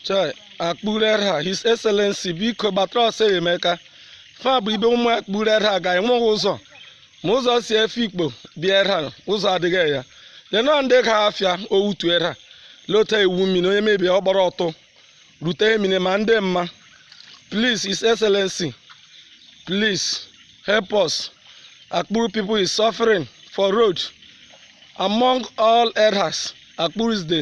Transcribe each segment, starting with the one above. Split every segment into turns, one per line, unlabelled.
chai akpuru edda his excellency biko gbatara ọsọ enyemaka fa bụ ibe ụmụ akpuru edda ga enweghị ụzọ ma ụzọ si afikpo bịa edda ụzọ adịghị ya lenọ ndị ga afịa owutu edda lota iwu mmiri onye mebie ọ gbara ọtọ rute emine ma ndị mma please his excellency please help us akpuru people is suffering for road among all eddas akpuru is the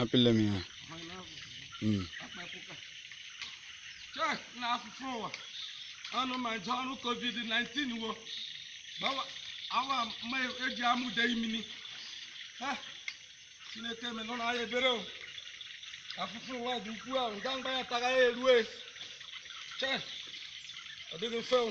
apịla m ya Mm. chei na afụfụ ụwa ọnụ ma nje ọrịa covid-19 wo gbawa awa ma eji amụde imini ha chineke meenụrụ anyị ebere o afụfụ ụwa dị ukwuu ahụ nga mgba ya tara ya erue chei ọ dịghị mfe o